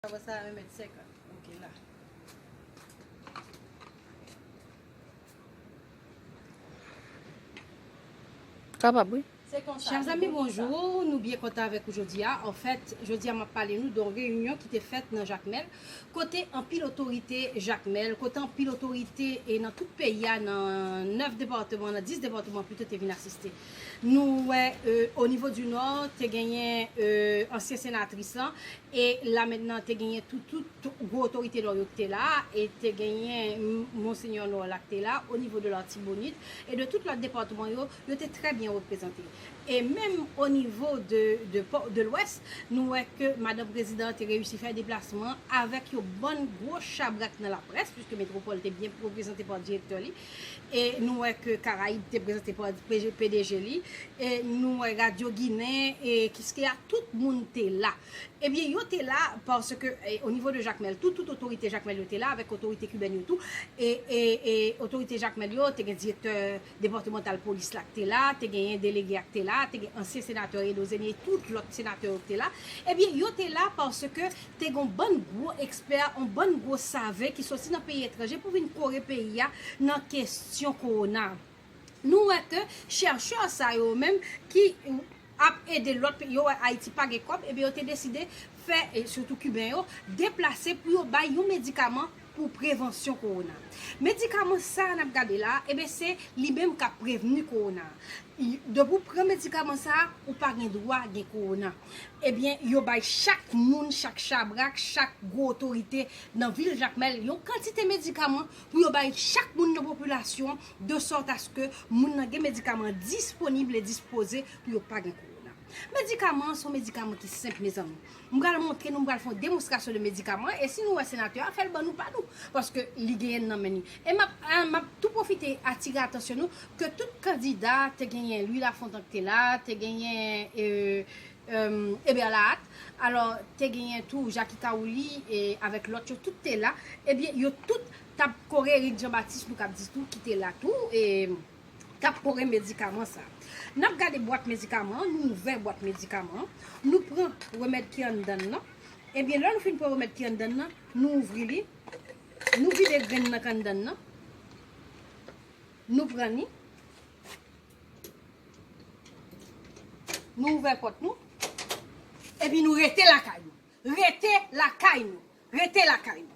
Kaba sa a 1 mèt 50. Ok la. Kapab wi. Se konsa. Chè zanmi bonjou, nou byen kontan avèk ou jodi a. Anfèt, jodi a m ap pale nou don reyinyon ki te fèt nan Jakmèl, kote anpil otorite Jakmèl, kote anpil otorite e nan tout peyi a nan 9 departeman, nan 10 departeman pito te vin asiste. Nou wè o nivo di nò te genyen ansyen senatris lan e la mentnan te genyen tout gwo otorite nò yo ki te la e te genyen monsenyè nò la ki te la o nivo de latibonit e de tout lòt depatman yo, yo te trè byen reprezante. E menm o nivo de lwès nou wè ke madan prezidan te reyisi fè deplasman avèk yon bann gwo chabrak nan laprès, puiske Metropole te byen reprezante pa direktè li. e nou wè ke Karayib te prezante pa pdg li, e nou wè radyo ginen e kiskeya tout moun te la, ebyen yo te la paske o nivo de Jakmèl tou, tout otorite Jakmèl yo te la avèk otorite kibèn yo tou, e otorite Jakmèl yo te gen direktè depatmantal polis la ki te la, te genyen delege a ki te la, te gen ansyen senatè Edo Zenie, tout lòt senatè yo ki te la, ebyen yo te la paske te gen yon bann gwo ekspè, yon bann gwo save ki soti nan peyi etranje pou vin kore peyi a nan kestyon kowona. Nou wè ke chèchè sa yo menm ki ap ede lòt peyi, yo wè Ayiti pa gen kòb, ebyen yo te deside fè, sitou kiben yo, deplase pou yo bay yon medikaman pou prevansyon kowona. Medikaman sa nap gade la, eben se li menm kap prevni kowona. Depi ou pran medikaman sa, ou pa gen dwa gen kowona. Ebyen yo bay chak moun, chak chabrak, chak gwo otorite nan vil Jakmèl yon kantite medikaman pou yo bay chak moun nan popilasyon de sòt aske moun nan gen medikaman disponib e dispoze pou yo pa gen kowona. Medikaman an son medikaman ki senp mezanmi. M pral montre nou, m pral fè yon demonstrasyon de medikaman an, e si nou wè senatè a, fè l ban nou pa nou, paske li genyen l nan men li. E m ap tou pwofite atire atansyon nou, ke tout kandida, te genyen Louis Lafontant ki te la, te genyen Eber Lahat, alò te genyen tou Jacky Caouli avèk lòt yo, tout te la, ebyen yo tout t ap kore Eric Jean Baptiste nou kab di tou ki te la tou. tap kore medikaman sa. Nap gade bwat medikaman an, nou ouvè bwat medikaman an, nou pran remèd ki anndan l lan, ebyen lè nou fin pran remèd ki anndan l lan, nou ouvri li, nou vide grenn nan k anndan l lan, nou pran li, nou ouvè pòt nou, epi nou rete lakay nou, rete lakay nou, rete lakay nou.